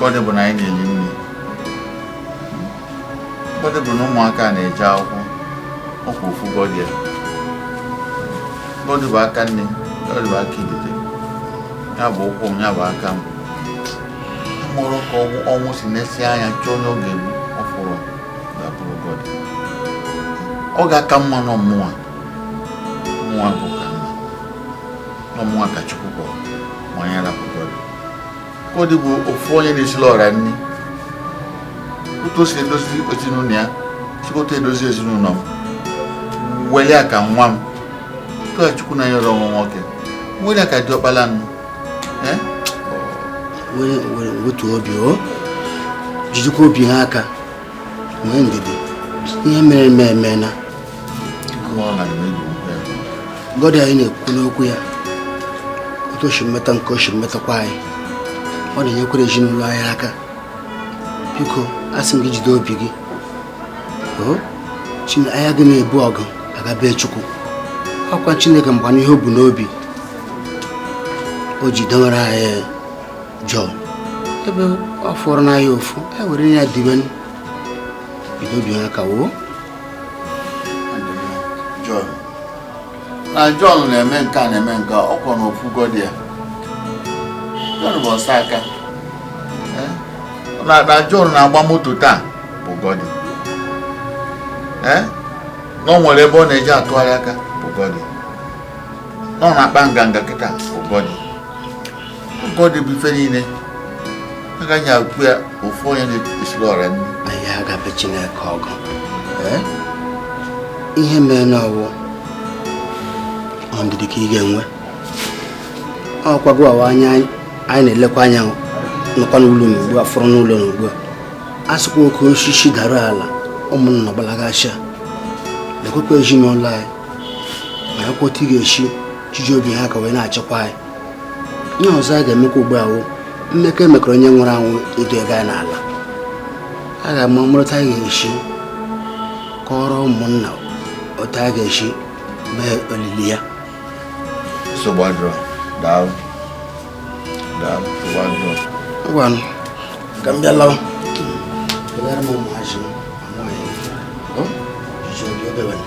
Godi bụ na anyị na-eri nri Godi bụ na ụmụaka na-eje akwụkwọ ọkwa ofu Godi a Godi bụ aka nni Godi bụ aka ibite ya bụ ụkwụ m ya bụ aka m amarọ ka ọnwụ si nesịa anya chọọ onye ọ ga-egbu ọ fụrụ ga-abụrụ Godi ọ ga-aka mma n'ọ mụnwa mụnwa bụ ka mma n'ọ mụnwa ka Chukwu kpọrọ ma ya rapụ Godi Godi bụ ofu onye na-esili ọra nri otu o si edozi ezinụlọ ya sikwa otu a edozi ezinụlọ m weli ya ka nwa m otu a chukwu na-enyerọ m nwa nwoke weli ya ka diọkpala nụ wetu obi o jidekwa obi ha aka nwee ndidi ihe mere eme emena Godi anyị na-ekwu n'okwu ya otu o shi meta gị ka o shi metakwa anyị ọ na-enyekwara ezinụlọ anyị aka biko asị m gị jide obi gị anyị agaghị na-ebu ọgụ aga be chukwu ọkwa chineke manụ ihe o bu n'obi o ji dewere anyị jọn ebe ọ fọrọ na ya ofu e were ya dibe jido obi ha aka woo na Jọn na-eme nke a na-eme nke ọkwa na ofu godi a Jọn bụ ọsọ aka eh? na Jọn na-agba moto taa bụ godi eh? na o nwere ebe ọ na-eji atụgharị aka bụ godi na ọ na-akpa nganga kịta bụ godi Godi bụ ife niile agaghị ekwu ya ofu onye na-esiri ọra nri anyị aga be chineke ọgụ eh? ihe merenụ ọ wụ ndidi ka ị ga-enwe ọkwa gị wụ onye anyị na-elekwa anya nọkwa n'ụlọ n'ugbu a fọrọ n'ụlọ n'ugbu a a sịkwa oke osisi dara ala ụmụnna gbalagasha lekwekwa ezinụlọ anyị marakwa otu ị ga-esi jiji obi ha aka wee na-achịkwa anyị ihe ọzọ a ga-emekwa ugbu a wụ mmekọ emekọrọ onye nwụrụ anwụ iduga ya n'ala a ga-amara otu a ga-esi kọrọ ụmụnna otu a ga-esi mee olili ya nsogbu adịrọ daalụ daalụ nsogbu adịrọ ngwanụ ka m bịa lawa kpegara m ụmụazị m amaghị ọ jụrụ oge wena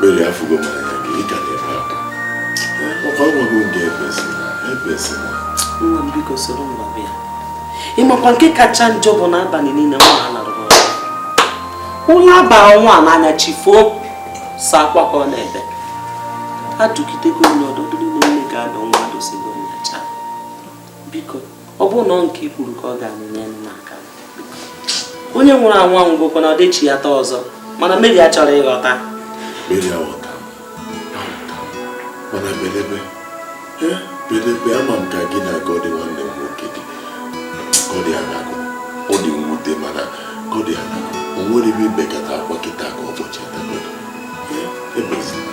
Mary afụgo m anya gị ị ka na-ebe akwa ọkwa agwago m gị ebezina ebezina nwa m biko soro m laba ya ịmakwa nke kacha njọ bụ n'abalị niile nwa a alarụrọ ụla aba nwa n'anya chi foo sọ akwa ka ọ na-ebe adụgidego m ndụmọdụ niile nne ga-adụ nwa adụsigo ọ bụrụ na ọ nke i kwuru ka ọ ga-anụ nyelụ m aka onye nwụrụ anwụ anwụgokwa na ọ dị echighata ọzọ mana Mary achọrọ ịghọta Mary aghọta mana bedebe bedebe ama m ka gị na Goddy nwanne m nwoke dị Goddy anago ọ dị mwute mana Goddy anago o nwere ebe ị bekata akwa kịta ka ọ kpọchighata Goddy ebezina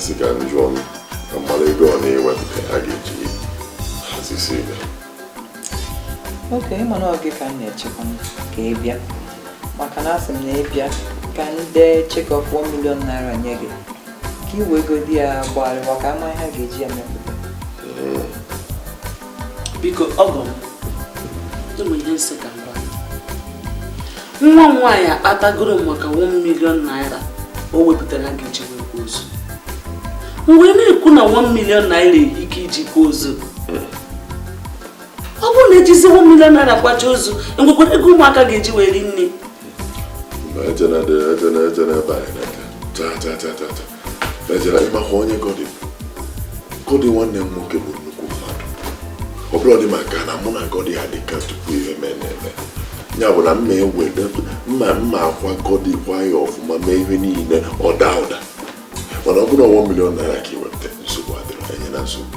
sị ka m jụọ m ka m mara ego ọ na-ewepụta a ga-eji hazisi ife okay ị ma na ọ gị ka m na-echekwa ka ị bịa maka na asị m na ị bịa ka m dee cheque of 1 million naira nye gị ka i wegodi ya gbagharịwa ka a ma ihe a ga-eji ya mepụta biko ọgọ m o nwe ihe m sị ka m gwa nwa m nwaanyị akọtagoro m maka 1 million naira o wepụtara a ga-eji wee kwa ozu m wee na-ekwu na 1 million naira erika iji kwa ozu ọ bụrụ na e jizi 1 million naira kwacha ozu e nwekwara ego ụmụaka ga-eji wee rie nni Ezra ịmakwa onye Goddy Goddy nwanne m nwoke bụ nnukwu mmadụ ọ bụrọdị maka na mụ na Goddy adịka tupu ihe mee na-eme ya bụ na mma ewede mma ma a kwa Goddy kwa ya ọfụma mee ihe niile ọ daa ụda mana ọ bụrụ 1 million naira ka i weta nsogbu adịrọ anyị na nsogbu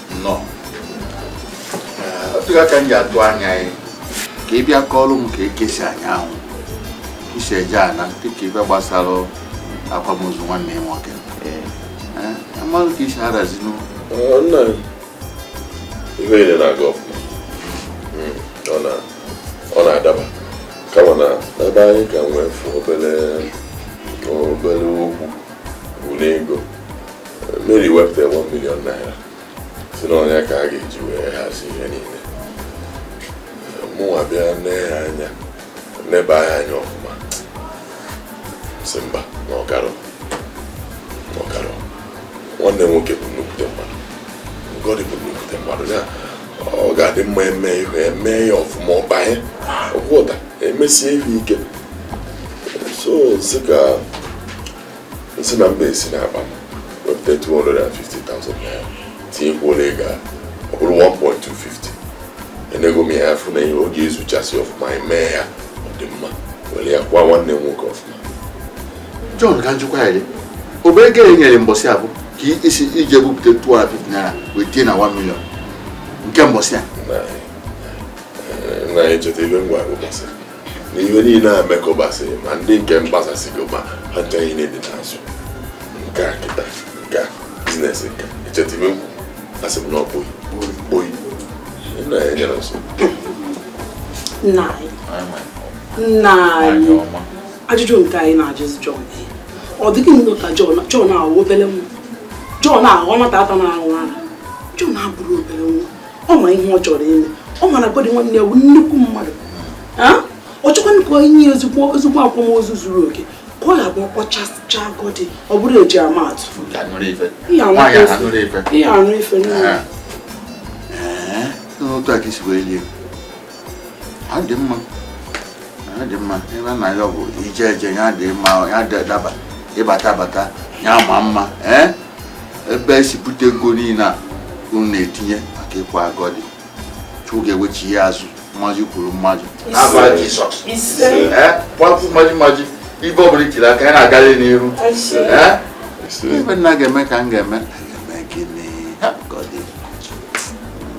nnọọ ọ ya ka m ji atụ anya gị ka ị bịa kọọrọ m ka ekesi anya ahụ isi eje ana dịka ife gbasara akwamozu nwanne ya nwoke m malụ ka i si harazinu ihe niile na-aga ọfụma ọ na-adaba kama na ebe anyị ka nwee fụ obere obere okwu bụ n'ego Mary wepụtara 1 million naira sị na ọ nya ka a ga-eji wee hazi ihe niile mụnwa bịa nee ya anya neba ya anya ọfụma sị mba na ọ garọ na ọ garọ nwanne nwoke bụ nnukwute mmadụ na Goddy bụ nnukwute mmadụ ya ọ ga-adị mma e mee ihe e mee ya ọfụma ọbanye ọkwụta e mesie ihe ike so sị ka nsị na mba esi n'akpa m wepụta 250,000 naira tinyekwuo n'ego a ọ bụrụ 1.250 enego m ya afụ na ihe ọ ga-ezuchasị ọfụma anyị mee ya ọ dị mma were ya kwa nwanne m nwoke ọfụma John ka m jụkwa ya dị ọ bụ ego e nyere mbọsị ahụ ka i- isi iji ebupụta 250 naira wee tie na 1 million nke mbọsị a na anyị cheta ibe ngwa agụ gbasịrị na ihe niile a mekọbasịrị ma ndị nke mgbasasịgo ma ha ncha niile dị n'azụ nke a kịta nke a biznes nke echeta ibe nkwu a sị m na ọ bụghị oyi nna ya nyere nsọ nna anyị nna anyị ajụjụ nke anyị na-ajụzi John ọ dị gị nnọọ ka John John ahụ obere nwa John ahụ ọ nwata na-aṅụ ara John abụrọ obere nwa ọ ma ihe ọ chọrọ ime ọ ma na Godi nwanne ya bụ nnukwu mmadụ ọ chọkwanụ ka o nye ya ezigbo ezigbo akwamozu zuru oke ka ọ ga-abụ ọkpọchasịcha Godi ọ bụrụ e ji ama atụ ihe anụ ife nne ha dị mma ha dị mma ebe na ya bụ ije eje ya dị mma ya dị daba ịbata bata ya ma mma ee eh? ebe e si bute ego niile a unu na-etinye maka ịkwa Godi Chukwu ga-ewechi ya azụ mmaji kwuru mmaji n'afa Jizọs eh? kwapụ mmaji mmaji ife ọ bụla i tiri aka ya na-agalị n'iru eh? ife nna ga-eme ka m ga-eme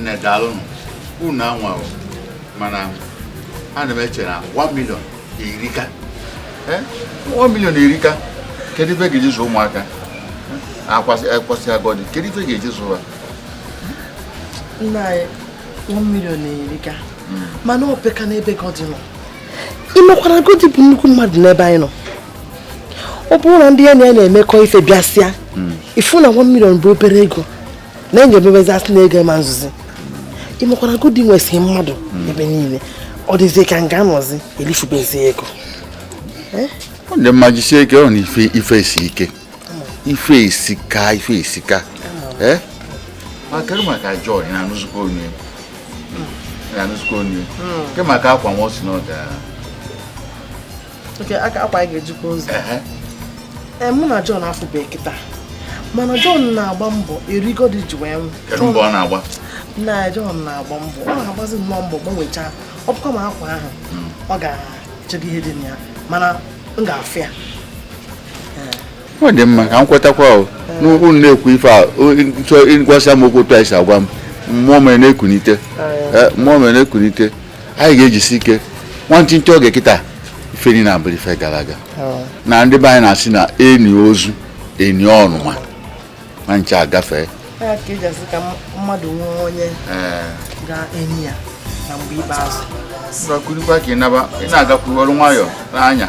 nne daalụnụ unu anwa o mana ana m eche na 1 million erika Eh, 1 million erika kedu ife a ga-eji zụọ ụmụaka a kwasịa a kwasịa Godi kedu ife a ga-eji zụọ ha nna anyị one million erika mana o peka n'ebe Godi nọ ị makwa na Godi bụ nnukwu mmadụ n'ebe anyị nọ ọ bụrụ na ndị ya na ya na-emekọ ife bịasịa ị fụ na one million bụ obere ego na enye emebezi a sị na ego ama ezuzi ị makwa na Godi nwesịrị mmadụ hmm. ebe niile ọ dịzie ka m ga-anọzi elifubezi ego eh? ọ dị mma jisie ike ọ na ife ife esi ike hmm. ife esika ife esika hmm. eh? maka maka John na anụzụkọ onye na anụzụkọ onye ke maka akwa nwa ọ sị na ọ ga akwa anyị ga-eji kwa ozu ee mụ na John afụbe kịta mana John na-agba mbọ eri Godi ji wee nwụọ na John na-agba mbọ ọ na-agbazi nnọọ mbọ gbanwechaa ọ bụkwa ma akwa ahụ hmm. ọ ga-echego ihe dị na ya mana m ga-afụ ya ọ dị mma ka m kwetakwa n'okwu ị na-ekwu ife a chọọ ị gwasịa m okwu otu a ị si agwa m mmụọ m ewere na-ekunite mmụọ m ewere na-ekunite anyị ga-ejisi ike nwantịntị oge kịta ife niile abụrụ ife gara aga oh. na ndị be anyị na-asị na eni ozu eni ọnụma ma nche agafee ka eji asị ka mmadụ nwee onye eh. ga-eni ya na mgbe ikpeazụ ị na-agakwuru ọrụ nwayọọ n'anya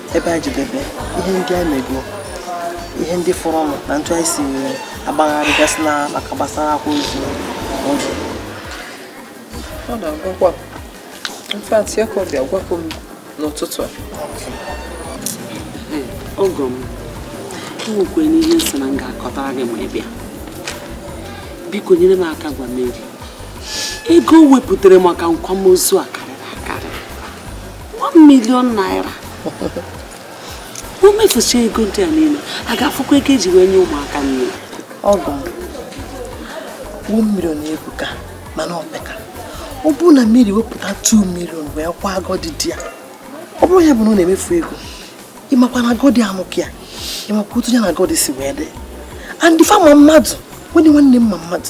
ebe anyị jedebe ihe ndị anyị mego ihe ndị fọrọnụ na otu anyị si agbagharịgasị na maka gbasara akwa ozu ọ na-agwakwa m in fact ya ka ọ bịa gwakwa m n'ụtụtụ a ọgọ m nwekwanụ ihe m sị na m ga-akọtara gị ma ị bịa biko nyere m aka gwa Mary ego o wepụtara maka nkwamozu a 1 million naira o mefucha ego ndị a niile a ga-afụkwa ego eji wee nye ụmụaka nni ọgọ m 1 million ebuka mana opeka ọ bụrụ na Mary wepụta 2 million wee kwaa Gọdị di ya ọ bụrụ ya bụ na ọ na-emefu ego ịmakwa na Gọdị amụkị ya ịmakwa otu ya na Gọdị si wee dị and fa ma mmadụ nwunye nwanne m ma mmadụ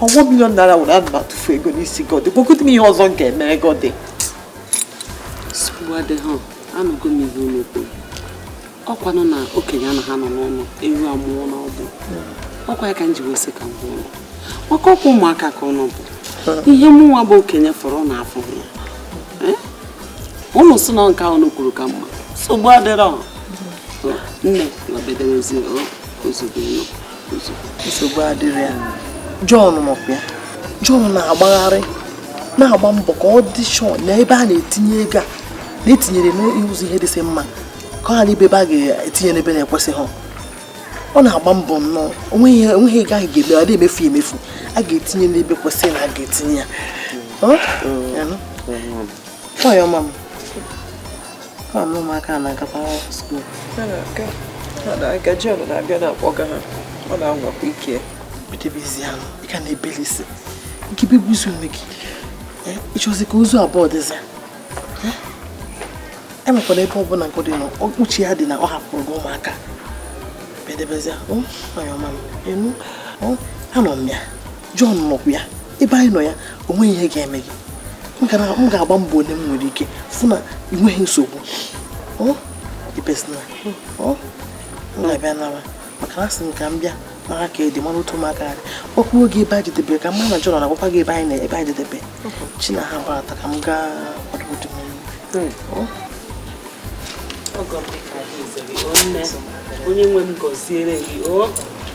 1 million naira were ana m atụfu ego n'isi Gọdị gwagodi m ihe ọzọ m ga-emere Gọdị nsogbu adịghị anụgo m ihe unu kwuru ọkwanụ na okenye anaghị anọ n'ụlọ ewu amụọ n'ọgbụ ọkwa ya ka m ji wee sị ka m kwuo maka ọkwa ụmụaka ka ụnụ bụ ihe mụnwa bụ okenye fụrụ ụnụ afụrọ ya eh? ụnụ si na nke ụnụ kwuru ka mma nsogbu adịrọ nne m bedebe ozugo ụlọ nsogbu adịrọ ya Jọn nọkwa ya Jọn na-agbagharị na-agba mbọ ka ọ dị sure na ebe a na-etinye ego a na-etinyere n'ụzọ ihe dịsị mma ka ọ ghara ịbụ ebe a ga-etinye n'ebe na-ekwesịghị ọ na-agba mbọ nnọọ onweghị onweghị ego ahụ ga-eme ọ na-emefu emefu a ga-etinye n'ebe kwesịrị na a ga-etinye ya onye ọma m ụmụaka na-agakwa skuul ha na-aga Jọn na-abịa na-akpọga ha ọ na-anwakwa ike bedebezianụ ị ka na-ebelisi ike begbuzi onwe gị ịchọzi ka ozu abụọ dịzi emekwana ebe ọbụla Gọdị nọ uche ya dị na ọ hapụrụ gị ụmụaka bedebezia onye ọma m ịnụ anọ m ya Jọn nọkwa ya ebe anyị nọ ya o nweghị ihe ga-eme gị m ga-agba mbọ niile m nwere ike fụ na ị nweghị nsogbu na-abịa nara maka na asị m ka m bịa mara ka ị dị mara otu ụmụaka dị ọkwa oge ebe anyị jedebere ka mma na Jọn na-agwakwa gị ebe anyị na ebe anyị jedebe chi na ha gbara ka m gaa kwado otu onye nwe m gọziere gị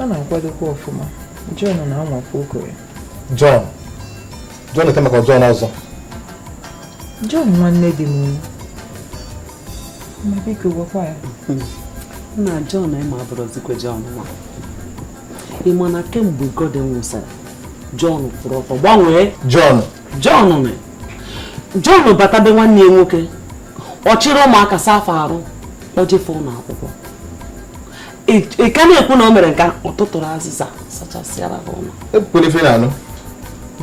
ọ na-akwadokwa ọfụma John na-anwakwa oko ya John John ete maka John ọzọ John nwanne di m ma biko gwakwa ya na John ị ma abụrọzikwa John nwa ị ma na kemgbe Goddy nwụsịrị John kwụrụ ọtọ gbanwee John John John bata be nwanne ya nwoke ọ chịrị ụmụaka saa fa arụ kpọje fa ụlọ akwụkwọ ị ka na-ekwu na o mere nke ọ tụtụrụ azịza zachasịara ha ụlọ ekwukwere ife na-anụ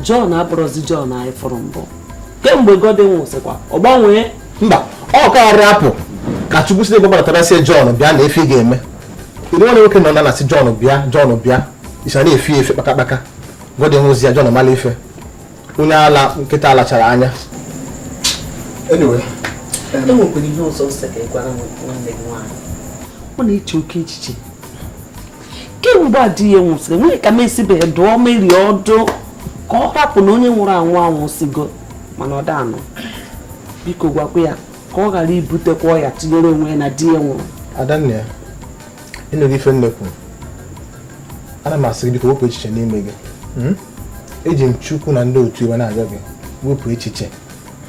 John abụrọzi John anyị fụrụ mbụ kemgbe Goddy nwụsịkwa ọ gbanwee mba ọ kara hapụ ka Chukwu si ebe gbabatara sị ya John bịa nee ife ị ga-eme ịdị nwanne nwoke nọ na na si John bịa John bịa isa na-efe efe kpakakpaka Goddy nwụzịa John mala ife onye ala nkịta lachara anya e nwekwara ihe ọzọ ọ sị ka ị gwara nwanne gị nwaanyị ọ na-eche oke echiche kemgbe a di ya nwụsịrị o nwerọ ka m esibeghị dụọ Mary ọdụ ka ọ hapụ na onye nwụrụ anwụ anwụsịgo mana ọ da-anụ biko gwakwa ya ka ọ ghara ibutekwa ọya tinyere onwe ya na di ya nwụrụ Adanna ya ị nụghị ife m na-ekwu ana m asị gị biko wepụ echiche n'ime gị hmm? eji m Chukwu na ndị otu ya wee na-ayọ gị wepụ echiche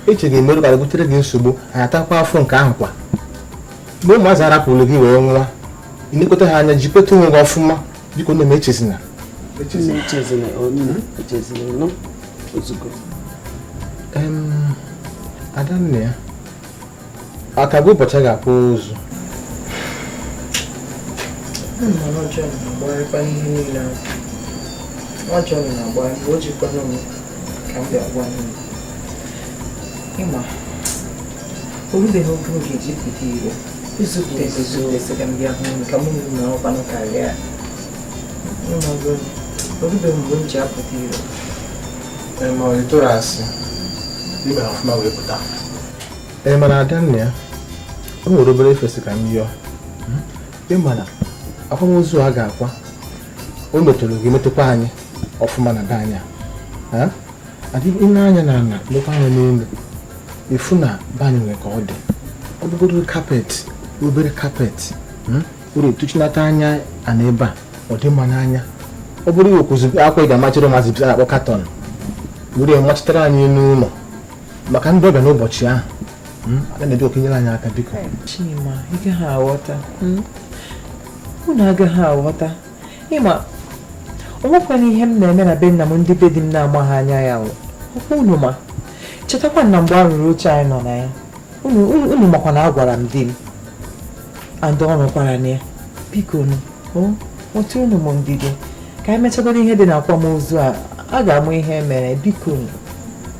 echiche ga-eme ka o butere gị nsogbu anyị atakwa afụfụ nke ahụ kwa mgbe ụmụazị a rapụrụ gị wee nwa ilekọta ha anya jikweta onwe gị ọfụma biko nne m echezina Adanna ya a kago ụbọchị a ga-akwa ozu ị ma orubeghị oge oge eji pụta iro izute ezoezi ka m bịa hụ ka mụ na ọkwanụ karịa orubeghị mgbe m ji apụta iro ma ọ tụrụ asị n'ime ọfụma wee pụta ee mana Adanna ya o nwere obere ife m sị ka m yọọ ị ma na akwamozu a ga-akwa o metụrụ gị metụkwa anyị ọfụma na be anyị a dị ị lee anya na ala lekwa anya n'elu ị fụ na be anyị nwere ka ọ dị ọ bụgodu carpet obere carpet hmm? were tụchinata anyị ana ebe a ọ dị mma n'anya ọ bụrụ ị wekwuzi akwa ị ga-amachiri mazị bi na-akpọ curtain were machitara anyị n'ụlọ maka ndị ọbịa n'ụbọchị ahụ hmm? a na-ebi oke nyere anyị aka biko Chima ị gaghị aghọta hmm? unu agaghị aghọta ị ma o nwekwanụ ihe m na-eme na be nna m ndị be di m na-amaghị anya ya ọkwa unu ma chetakwa na mgbe a rụrụ oche anyị nọ na ya unu makwa na agwara m di m and ọ nọkwara na ya biko nu nwetụnụ m ndidi ka anyị mechagodu ihe dị na akwamozu a a ga-ama ihe mere biko nu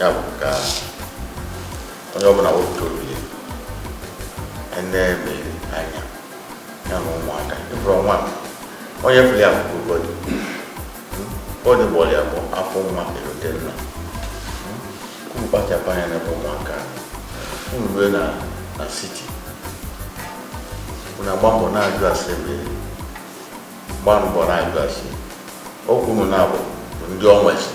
ya bụ ka onye ọbụla wepụta obi ya ene mere anya ya na ụmụaka ịbụrụ nwa onye fụrụ ya bụ bọdụ bọdụ gbọrọ ya bụ afọ nwa erute nna unu kpachapụ anya n'ebe ụmụaka unu rue na na siti unu agba mbọ na-ajụ ase mere gbaa mbọ na-ajụ ase okwu unu na-abụ bụ ndị ọnwa esi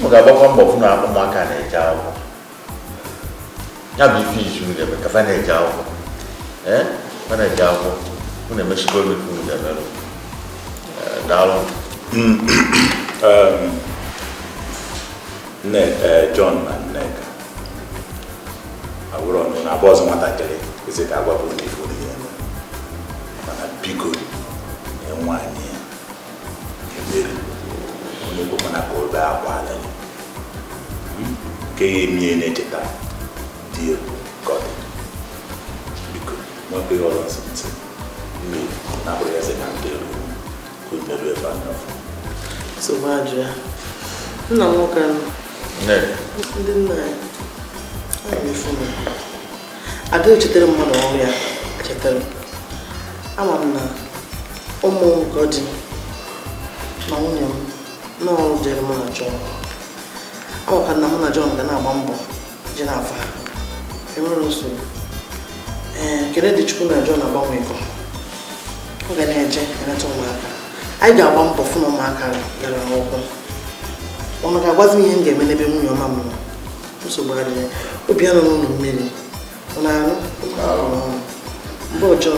m ga-agbakwa mbọ fụ na ụmụaka na-eje akwụkwọ ya bụ ife izu m ga-eme ka fa na-eje akwụkwọ ee fa na-eje akwụkwọ unu emesigo m ife unu ga-emerụ daalụ John na Nneka abụrụ ọnụ na abụ ọzọ nwatakịrị ezi ka agwa bụ ndị ifo dị ya eme mana biko nye nwaanyị ya ebere onye bụ mana ka obe akwa ala ya nke ya emie na-echeta dị egwu ka ọ dị biko nwekwa ihe ọzọ nsị nsị mmiri na-abụrụ ya sị na ndị elu nna nwoke ahụ ndị nna anyị ada echetere mmadụ ọrụ ya chetara ama m na ụmụ m ka dị na nwunye m n'ọrụ dịrị mụ na John ọ ka na mụ na John ga na-agba mbọ Jennifer, e nwere nsogbu. Ee, ekele dịrị Chukwu na John agbanwego. Ọ ga na-eje eleta ụmụaka. Anyị ga-agba mbọ fụ na ụmụaka gara akwụkwọ. Unu ga-agwazi m ihe m ga-eme n'ebe nwunye ọma m nọ. Nsogbu adịghị. Obi anọ n'ụlọ mmiri. Ọ na-arụ? Mgbe ọjọọ.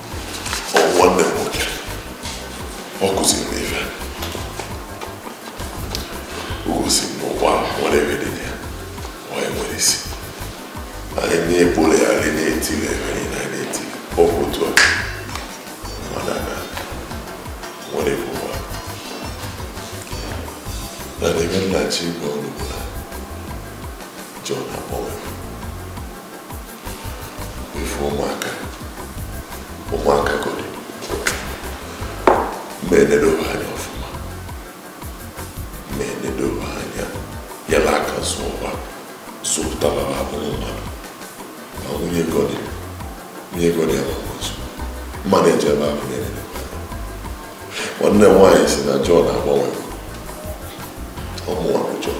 nwanne m nwoke ọ kụziri m ife o gosi m na ụwa nwere ebe dị ya onye nwere isi anyị na-ekpole ya anyị na-etile ebe anyị na na-eti ọ bụ otu a mana na nwere ebe ụwa na n'ebe nna chi igwe ọrụ bụ na John akpọwe ife ụmụaka ụmụaka Godi m ga-enedobe anya ọfụma m ga-enedobe anya yala aka zụba zụpụta ha abụrụ mmadụ ma nwunye Godi nwunye Godi amaghị ozu mmadụ eji ebe abụ na-enedobe nwanne m nwaanyị sị na John agbanwe ọ mụwa bụ John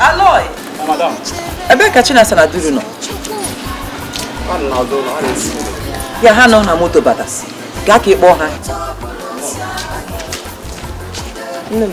Aloy! Madam. Ebe ka Chinasa na Duru nọ? Ya ha nọ na moto bata. Gaa ka ị kpọọ ha. Nne m.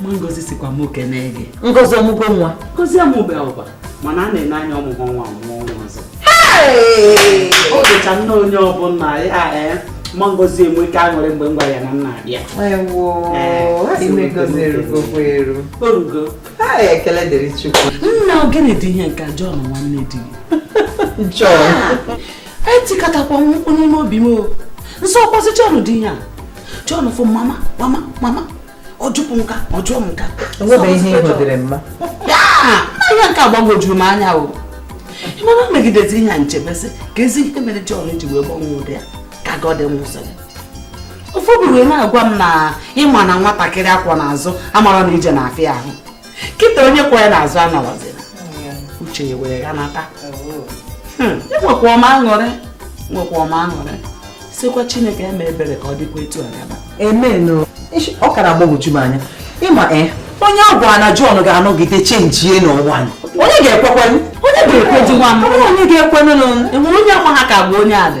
ma ngozi sịkwa mụ kenee gị ngozi ọ mụgo nwa ngozi amụberọkwa mana a na-ene anya ọ mụgo nwa ọ mụgo nwa ọzọ o dịcha nne onye ọbụla ya ee ma ngozi enweka aṅụrị mgbe m gwara ya na m na-abịa o rugo ekele dịrị chukwu nna ọ gịnị dị ihe nke John nwanne di John etikatakwa mkpu n'ime obi m o m sị ọ bụzi John dị ihe a John fụ mama mama mama ọ jụpụ nke a ọ jụọ m nke a enwebeghị ihe ịhụdịrị mma ihe nke a gbagwojuru m anya o ị ma na e megidezi ihe a m chebezi keezi ihe mere John ji wee gbanwee ụdị a ka Godi nwụsịrị ofu obi wee na-agwa m na ị ma na nwatakịrị a kwọ n'azụ amarọ na ije na-afịa ahụ kịta onye kwọ ya n'azụ anọrọzi ya uche ya wee ya nata hmm, enwekwa m aṅụrị nwekwa m aṅụrị sịkwa chineke eme ebere ka ọ dịkwa etu a gaba ọ ka na-agbagwoju m anya ị ma e onye a gwara na John ga-anọgide chenjie n'ụwa onye ga-ekwekwenụ onye ga-ekwedị nwa m onye ga-ekwenụ e nwere onye ọkwa ha ka bụ onye adị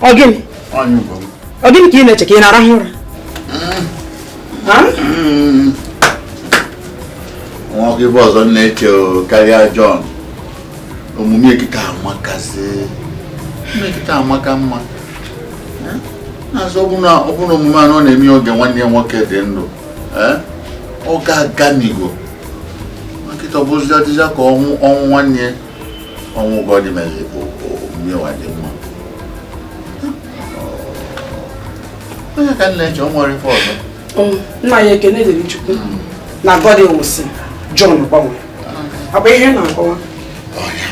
ọ gịnị ọ gịnị ka ị na-eche ka ị na-arahụ ụra nwa m kee ife ọzọ m na-eche karịa John omume ya kịta amakazị kịta amaka mma na a sị ọ bụ na omume a ọ na-eme oge nwanne ya nwoke dị ndụ ọ ga-aganigo kịta ọ bụzi ọ dịzi ka ọnwụ ọnwụ nwanne ya ọnwụ Godi mere bụ omume ya dị mma ọ ya ka m na-eche o nwere ife ọzọ um, nna ya ekene dịrị chukwu hmm. na Godi nwụsị John gbanwe ọ bụ ihe m na-akọwa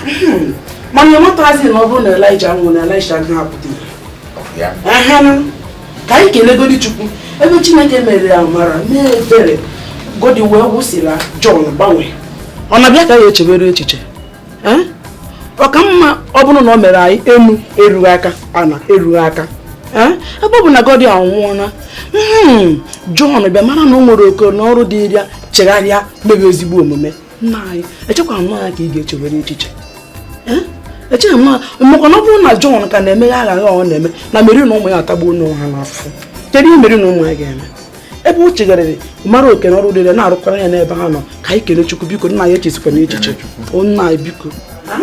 hmm. mana ị matazi na ọ bụrụ na Elija anwụrọ na Elisha agaghị apụta ihe ka anyị kelegodi chukwu ebe chineke mere amara na ebere godi wee nwụsịla John gbanwee ọ na-abịa ka ya echebere echiche ọ ka mma ọ bụrụ na o mere anyị enu erughị aka ana erughị aka ebe ọ bụ na godi anwụọla hmm, John bịa mara na o nwere oke na ọrụ dịịrị ya chegharịa mebe ezigbo omume nna anyị echekwana ya ka ị ga-echewere echiche echeghị m maka na ọ bụrụ na John ka na-emeghe aghụghọ ọ na-eme na Mary na ụmụ ya atagbuona onwe ha n'afụfụ kedu ihe Mary na ụmụ ya ga-eme ebe o chegharịrị mara oke na ọrụ dịrị na-arụkwara ya n'ebe ha nọ ka anyị kele Chukwu biko nna anyị echezikwana echiche nna anyị biko ah,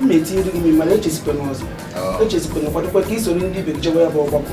m na-etinyere gị mmiri mana echezikwana ọzọ oh. echezikwana kwadokwa ka i soro ndị ibe jewe ya bụ ọgbakọ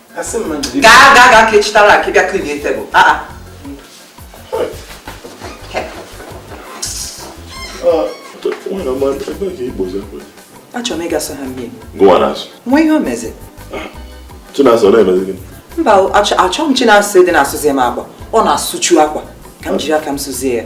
gaa gaa gaa ka echitara akwa bịa klinie tebụl achọrọ m ịgasa ha mmiri nwa ihe o mezi mba achọghị m chinasa ịdị na-asụzi m akwa ọ na-asụchu akwa ka m jiri aka m sụzie ya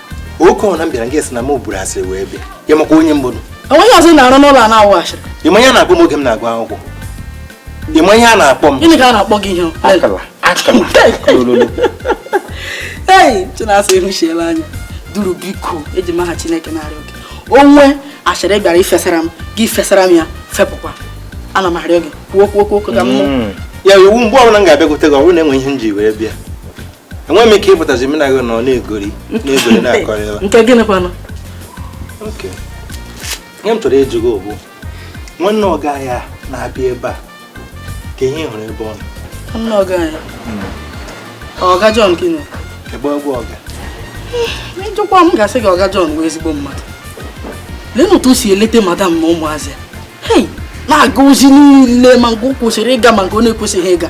oke ọ na m bịara gị sị na m buru asịrị wee bịa ị makwa onye m bụ o nweghị ọzọ na-arụ n'ụlọ a na-awụ asịrị ị ma ihe a na-akpọ m oge m na-agụ akwụkwọ ị ma ihe a na-akpọ m gịnị ka a na-akpọ gị ihe akala akala ei chinasa ehuchiela anya duru biko eji m aha chineke na-arịọ gị o nwee asịrị ị bịara ifesara m gị fesara m ya fepụkwa ana m arịọ gị kwuo kwuo kwuo ka m mm. ya iwu mgbe ọbụla m ga-abịakwute gị ọ bụrụ na enwe ihe m ji wee bịa enweghị m ike ịpụtazi m na gị nọ na-egori na-egori na-akọrị ebe nke gịnị kwanụ oke ihe m chọrọ ịjụ gị bụ nwanne ọga ya na-abịa ebe a kee ihe ị hụrụ ebe ọ nọ nwanne ọga ya ọga John gịnị ebe ọ bụ ọga ị jụkwaa m ga-asị gị ọga John bụ ezigbo mmadụ leenụ otu o si elete madam na ụmụazị hei na-aga ozi niile ma nke o kwesịrị ịga ma nke ọ na-ekwesịghị ịga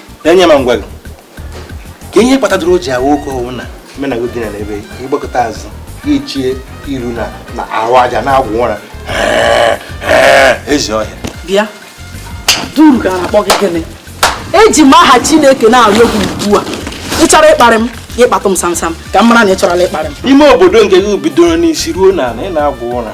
onye ma ngwa gị kee ihe kpatadoro o ji ahụ oke ọ wụ na menago dị na ebe ị gbakụta azụ i chee iru na na-arụ aja na-agwụ ụra ezi ọhịa bịa duru ka a na-akpọ gị gịnị eji m aha chineke na-arịọ gị ugbu a ị chọrọ ịkparị m ị kpatụ m samsam ka m mara na ị chọrọla ịkparị m ime obodo nke gị bidoro n'isi ruo n'ala ị na-agwụ ụra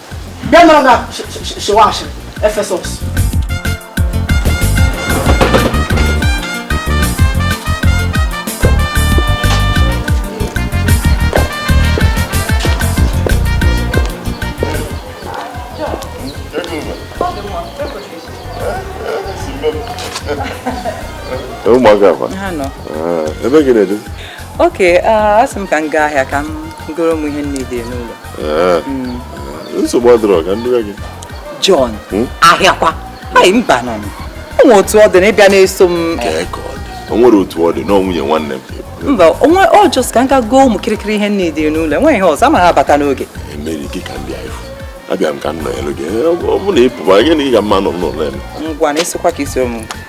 bịa nọrọ na shewa ashịrị efesọs ụmụaka akwa ebe gị na-edu oke asị m ka m gaa ahịa ka m goro m ihe na-adịghị n'ụlọ eh, hmm. eh, nsogbu adịrọ ka m duo gị John hmm? ahịakwa anyị mba nụ o nwere otu ọ dị na ị bịa na-eso m o nwere otu ọ dị na nwunye nwanne m mba onwe ọ just ka m ga goo ụmụ kirikiri ihe na-adịghị n'ụlọ enweghị ihe ọzọ m ga-abata n'oge emeri gị ka ndị anyị abịa m ka m nọ elu gị eh, ọ bụ na ị pụba gị na ị ga mma nọ n'ụlọ ngwanụ ịsịkwa ka isi ụmụ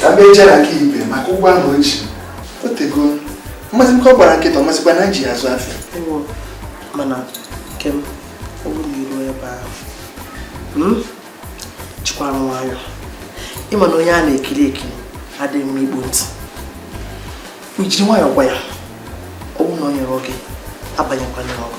ka m bịa jere na nke ibe maka ụgwọ ahụ o ji o tego mmasị m ka ọ gbara nkịtị ọ mazikwa na eji azụ afịa mana nkem ọ bụrụ na iruo ebe ahụ hmm? jikwara nwayọ ị ma na onye a na-ekiri ekiri adịghị mma ịkpọ ntị ijiri nwayọ gwa ya ọ bụrụ na o nyerọ gị abanyekwana ọgụ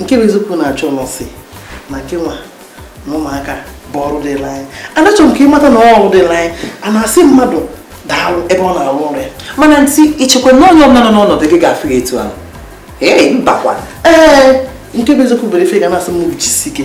nke bụ eziokwu na-achọ nọsị na gị nwa na ụmụaka bụ ọrụ dịlị anyị anachọ m ka ị mata na ọrụ dịlị anyị a na-asị mmadụ daalụ ebe ọ na-arụ ọrụ ya mana ntị ichekwa na onye ọbụla nọ n'ọnọdụ gị ga-afụ ya etu ahụ ee mbakwa ee nke bụ eziokwu bụrụ ife ga na-asị mmadụ jisi ike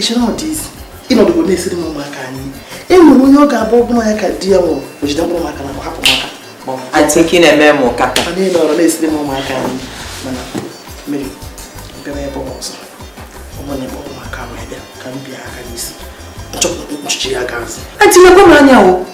ịchọrọ ọ dị isi ịnọdụgo na-esiri m ụmụaka nni e nwere onye ọ ga-abụ ọbụla ya ka di ya nwụrụ o jide mkpụrụ maka na hapụ maka atịnki na-eme m ụka mana ị nọrọ na-esiri m ụmụaka nni mana mmiri bịara ebe ọzọ ọmụ na ebe ụmụaka wee bịa ka m bịa aka n'isi nchọpụta nchichi ya gaazị etinyekwa m anya o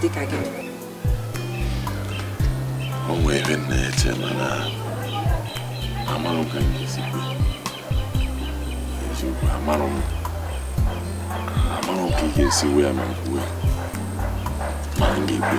dịka gị o nwere ihe m na-eche mana amarọ m ka m ga-esi kwuo eziokwu amarọ m amarọ m ka ị ga-esi wee ma m kwuwe ma m ga-ekwe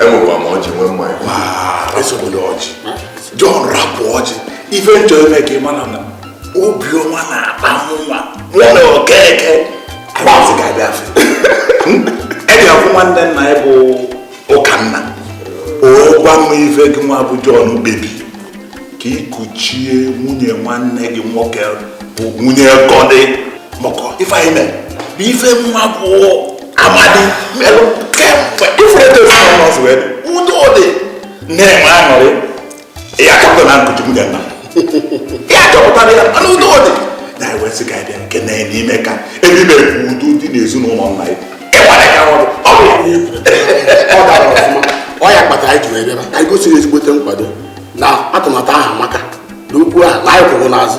enwekwa m ọjị nwee mmanya esogbula ọjị jọn rapụ ọjị ife m chọrọ ime ka ị mara na obiọma na-akpa nwa mụ na okeke kpazị ka bịa fe eji akwụ nwanne nna ya bụ ụkanna ọ gwa m ife gị nwa bụ jọn kpebi ka ikuchie nwunye nwanne gị nwoke bụ nwunye gọdị maka ife anyị mere bụ ife nwa bụ amadi mmerụ kemgbe ifuru eto ezinụlọ n'ọzọ wee udo dị na-enwe aṅụrị ya chọpụta na nkuchi nwunye nna ya chọpụtara ya mana udo dị na ewesị ka bịa nke na n'ime ka ebe ime bụ udo dị n'ezinụlọ nna ya ịgbara ka ọrụ ọ bụ ọ dara ọfụma ọ ya kpatara anyị ji wee bịara ka anyị gosiri ezigbote nkwado na atụmatụ ahụ maka na okwu ahụ na anyị kwụrụ n'azụ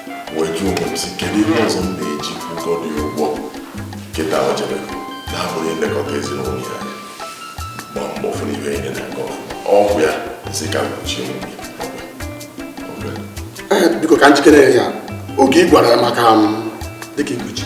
wee jụọ onwe m sị kedu ihe ọzọ m na-eji kwụ Gọdị ụgwọ nkịta o jere na-abụghị ilekọta ezinụlọ ya gba mbọ fụrụ ibe enye na nke ọgwụ ya sị ka m kuchie onwe biko ka njikere ya oge ị gwara ya maka m dịka ikuchi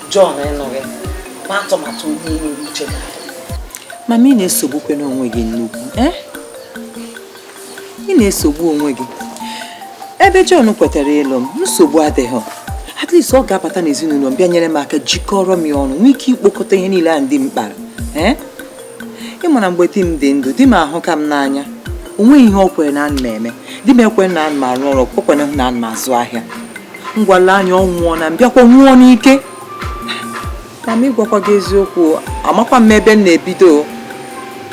Jọn ịnụ gị ma atụmatụ onye nwere uche mama ị na-esogbukwenụ onwe gị nnukwu eh? ị na-esogbu onwe gị ebe Jọn kwetara ịlụ m nsogbu adịghị at least ọ ga-abata n'ezinụlọ m bịa nyere m aka jikọrọ m ya ọnụ nwee ike ikpokọta ihe niile a di m kpara eh? ị mara mgbe di m dị ndụ di m ahụka m n'anya o nweghị ihe o kwere na ana m eme di m ekwe na ana m arụ ọrụ o kwere na ana m azụ ahịa ngwa le anya ọ nwụọ na m bịakwa nwụọ ọnwụ ike ma m gwakwa gị eziokwu amakwa m ebe m na-ebido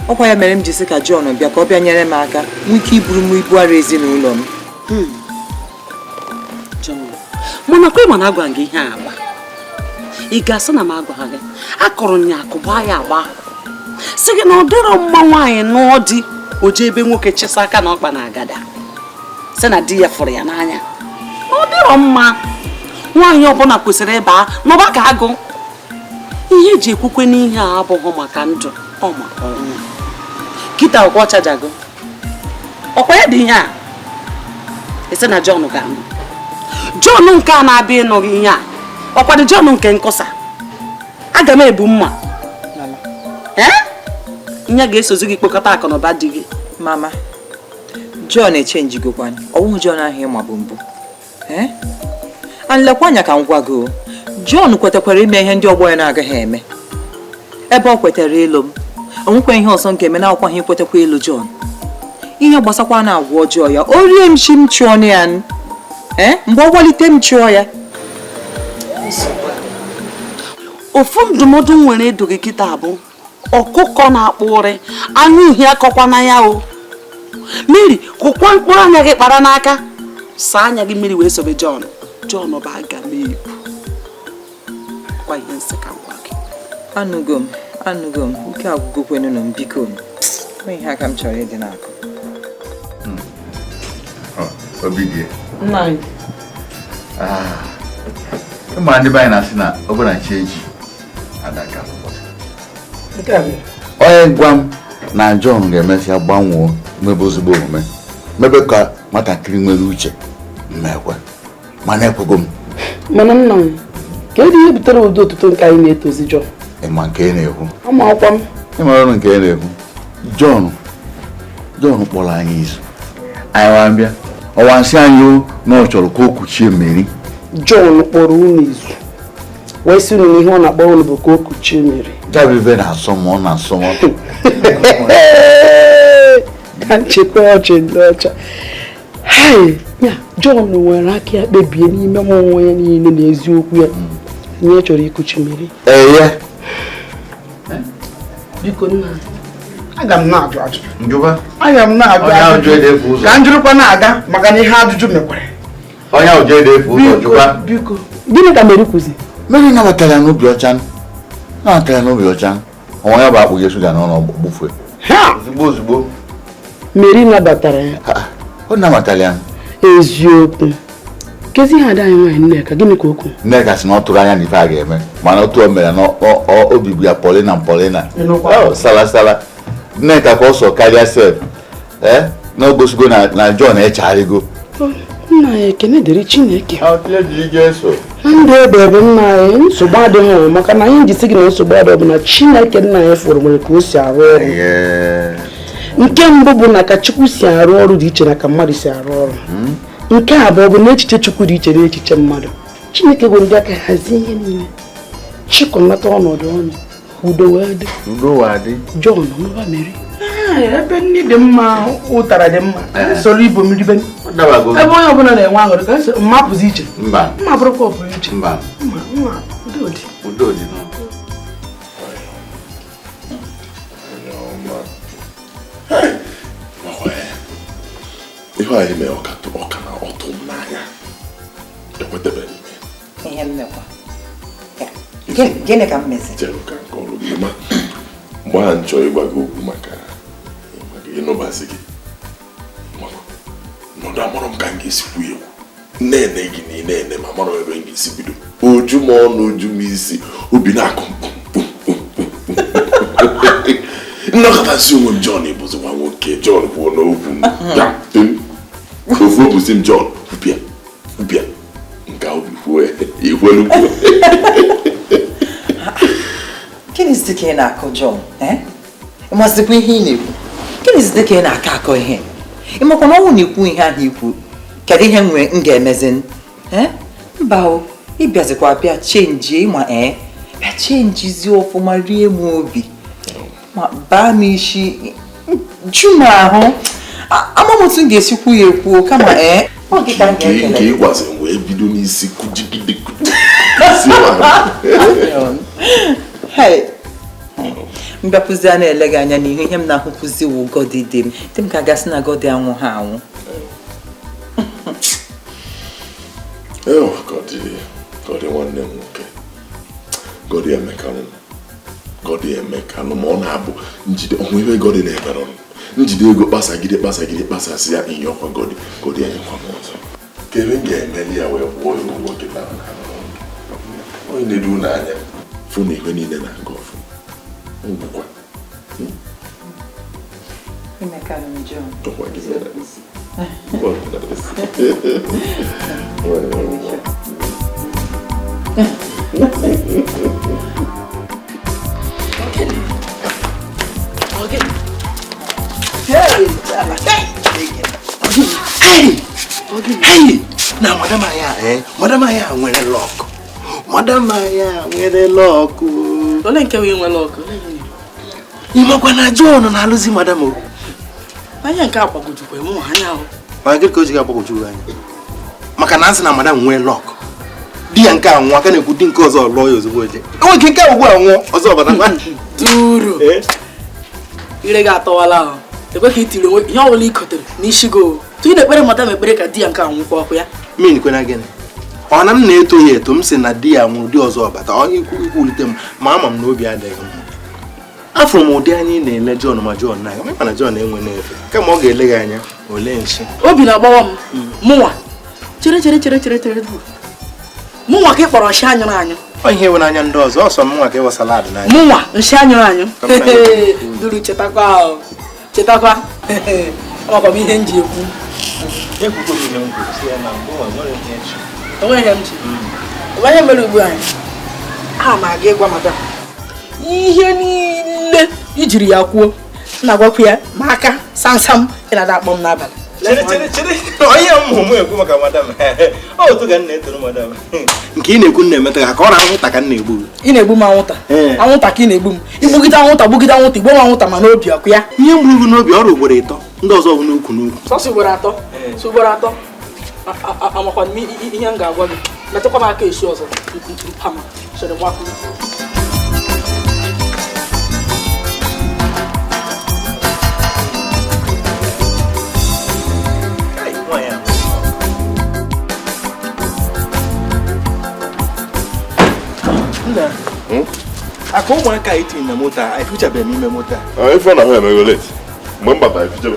ọkwa ya mere m ji sị ka John bịa ka ọ bịa nyere m aka nwee ike iburu m ibu arọ ezinụlọ m mana kwa ị ma na agwara gị ihe agba ị ga-asị na m agwara gị akụrụ nya akụba ya agba sị gị na ọ dịrọ mma nwaanyị nụọ di o jee be nwoke chịsaa aka na ọkpa n'agada sị na di ya fụrụ ya n'anya ọ dịrọ mma nwaanyị ọbụla kwesịrị ịba n'ọba ka agụ ihe e ji ekwukwenụ ihe a abụghị maka ndụ ọ maka ọnwụ kịta ọkwa ọ chajago ọkwa ya dị ihe a ị sị na Jọn ga-anụ Jọn nke a na-abịa ịnụ gị ihe a ọkwadụ Jọn nke nkọsa agamebu m ma ya ga-esozi gị kpokọta akụnụba di gị mama Jọn echenjigokwa ọ wụghị Jọn ahụ ị mabu mbụ Eh? and lekwa anya ka m gwa gị John kwetakwara ime ihe ndị ọgbọ ya na-agaghị eme ebe o kwetara ịlụ m o nwekwa ihe ọzọ m ga-eme na-awụkwaghị ikwetakwa ịlụ John ihe gbasakwa na agwa ọjọọ ya o rie m isi m chụọ ya eh? mgbe ọ gbalite m chụọ ya ofu ndụmọdụ m nwere ịdụ gị kịta bụ ọkụkọ na-akpa nri anya uhie akọkwana ya o Mary kụkwa mkpụrụ anya gị kpara n'aka saa anya gị mmiri wee sobe John John bụ agamebu kwa ihe m sị ka m gwa gị anụgo m anụgo m ike agwụgokwenụ m biko inye aka m chọrọ ịdị n'akụ hmm. ah. ị ma ndị be anyị na-asị na ọ bụrụ na chi eji onye gwa m na John ga-emesịa gbanwoo mebe ezigbo omume mebe ka nwatakịrị nwere uche m ma ekwe mana ekwego m mana nna m kedu ihe butere ụdị otuto nke anyị na-etozi John ịma nke ị na-ekwu amakwa m ị marọ nke ị na-ekwu John John kpọrọ anyị izu anyị wee bịa ọ wee sị anyị na ọ chọrọ ka o kuchie Mary John kpọrọ unu izu wee sị unu na ihe ọ na-akpọ unu bụ ka o kuchie Mary gabibe na-asọ m ọ na-asọ m ka m chịkwa ọchị ndị ọcha ya John weere aka ya kpebie n'ime mmụọ ya niile na eziokwu ya na ya hmm. chọrọ ikuchi Mary eye biko nna aga m na-ajụ ajụjụ aga m na-ajụ ajụjụ ka njụrụkwa na-aga maka na ihe ajụjụ mekwere onye ahụ jee efu ụzọ jụwa biko gịnị ka Mary kwuzi Mary nabatara ya n'obi ọcha nabatara ya n'obi ọcha o nwe onye bụ akpụnye shuga n'ọnụ gbufue ozugbo ozugbo Mary nabatara ya ọ nabatara ya eziokwu kezi ihe ada anyị nwaanyị Nneka gịnị ka o kwu Nneka sị na ọ tụrụ anya na ife a ga-eme mana otu o mere na obi bụ ya polina polina salasala Nneka ka ọ sọ karịa sef ee na o gosigo na John echegharịgo nna ya ekene dịrị Chineke na ndụ ebebe nna anyị nsogbu adịrọ maka na anyị ji sị gị na nsogbu adịghị bụ na chineke nna anyị fụrụ nwere ka o si arụ ọrụ nke mbụ bụ na ka chukwu si arụ ọrụ dị iche na ka mmadụ si arụ ọrụ hmm? nke abụọ bụ na echiche chukwu dị iche na echiche mmadụ chineke bụ ndị aka hazie ihe niile chịkọnata ọnọdụ ọnụ udo wee dị udo wee dị John anụba Mary ebe nni dị mma ụtara dị mma soro ibo mmiri be ebe onye ọbụla na-enwe aṅụrị ka mma pụzi iche mma bụrụkwa ọpụrụ iche mma mma udo dị udo dị ihe anyị mee ọ ka na-atụ m n'anya ekwetabe ihe mmekwa gịnị ka m mezi chere ka m kọọrọ gị ma mgbe ahụ m chọ ịgwa gị okwu maka ịnụbazi gị nọdụ amarọ m ka m ga-esi kwuo okwu na-ene gị na ị na-ene m amarọ ebe m ga-esi bido oju m ọnụ oju m isi obi na-akụ m nọkata sị onwe m John ị bụzi nwa nwoke John kwuonụ okwu ofu obi sị m John kwupịa bịa nke ahụ kwuo ya ikwelu kwuo gịnịzi ka ị na-akọ John eh? ị mazikwa ihe ị na-ekwu gịnịzi ka ị na-akọ akọ ihe ị makwa na ọ wụ na ikwu ihe ahụ ikwu kedu ihe m ga-emezi eh? mba o ị bịazikwa bịa chenjie ịma ee eh? bịa chenjizie ọfụma rie m obi ma baa m isi ju m ahụ ama m otu m ga-esi kwuo ya ekwuo kama ee eh. nke ị gwazi m wee bido n'isi kụjigide m bịapụzia na-ele gị anya n'ihu ihe m na-ahụpụzi wụ Godi dị m dị m ka a ga-asị na Godi anwụha anwụ Godi nwanne m nwoke Godi emeka m Godi emeka nụ ma ọ na-abụ njide ọnwa ebe Godi na-ebere ọnụ njide ego kpasagide kpasagide kpasasị ya ihe ọkwa Godi Godi enyekwa m ọzọ ka ebe m ga-emeli ya wee kwụọ ya ụgwọ kịta onye na-edu ụlọ anya fụ na ihe niile na-aga ọfụma wụkwa Emeka na John. ọkwa gị mere na madam anyị a eh? madam anyị a nwere luck madam anyị a nwere luck ole nke nwere luck ị makwa na John na-alụzi madam o anya nke a gbagwojukwa mụ anya ahụ mana gịnị ka o ji ga-agbagwoju gị anya maka na a sị na madam nwere luck di ya nke a nwụọ a ka na-ekwu di nke ọzọ lụọ ya ozugbo oje enwe ike nke a ugbu a nwụọ ọzọ abata ngwa Duru Ee. ire gị atọwala ahụ ekwe ka itiri onwe ihe ọbụla i kotere n'isi gị otu ị na-ekpere madam ekpere ka di ya nke a nwụkwa ọkụ ya mean kwanụ gịnị ọ na m na-eto ya eto m sị na di ya nwụrụ di ọzọ abata ọ ikwu ikwulite m ma ama m na obi adịghị mma afụ m ụdị anya ị na-ele John ma John na-aga mana John enwe efe kama ọ ga-ele gị anya o lee nsị obi na-agbawa m hmm. mụnwa chere chere chere chere chere mụnwa ka ị kpọrọ nshi anyụrụ anyụ ọ ihe ị wụ n'anya ndị ọzọ ọ sọ mụnwa ka ị wụ salad n'anya mụnwa nshi anyụrụ anyụ duru chetakwa ahụ chetakwa ọkwa m ihe m ji ekwu enweghị m chi onye mere ugbu anyị a ma aga ịgwa madam ihe niile i jiri ya kwuo na-agwakwu ya maka samsam ị na-ada akpọ m n'abalị chere chere chere onye mụmụ ekwu maka madam otu ga nna etoro madam nke ị na-ekwu na-emeta ya ka ọ na anwụnta ka m na-egbu gị ị na-egbu m anwụnta Ee. anwụnta ka ị na-egbu m igbugide anwụnta gbugide anwụnta igbuo m anwụnta ma n'obi ọkwa ya ihe m gburu gị n'obi ọrụ ugboro ịtọ ndị ọzọ bụ n'ukwu n'ukwu sọsọ ugboro atọ sọ ugboro atọ A- a- a- amakwana m i- i- ihe m ga-agwa gị metụkwa m aka esi ọzọ mpama sere gbapụ nna hmm? aka ụmụaka anyị tinye na moto a efichabeghị n'ime moto a ah, ịfụ na ha emego late mgbe m batara efichabe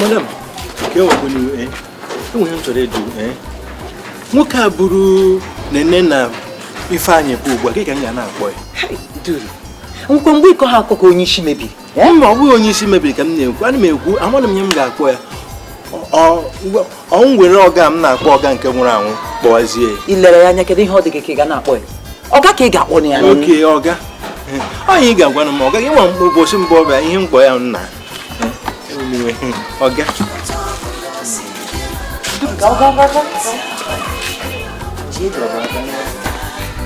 madam kee kwanụ eh, enwere ihe m chọrọ ịjụ eh. nwoke a buru Nene na Ifeanyị pụọ ugbu a gịnị ka m ga na-akpọ ya akwụkwọ mgbe ịkọ ha akụkọ onye isi mebiri Eh? mba ọ bụghị onye isi mebiri ka m na-ekwu ana m ekwu amaghị m ihe m ga-akpọ ya o nwere ọga m na-akpọ ọga nke nwụrụ anwụ kpọwazie ya ilere ya anya kedu ihe ọ dị gị ka ị ga na-akpọ ya ọga ka ị ga-akpọ ya okay ọga ọ ihe ị ga-agwa m ọga gị nwa ụbọchị mbụ ọ bịa ihe m kpọ ya nna ọga Go, go, go, go.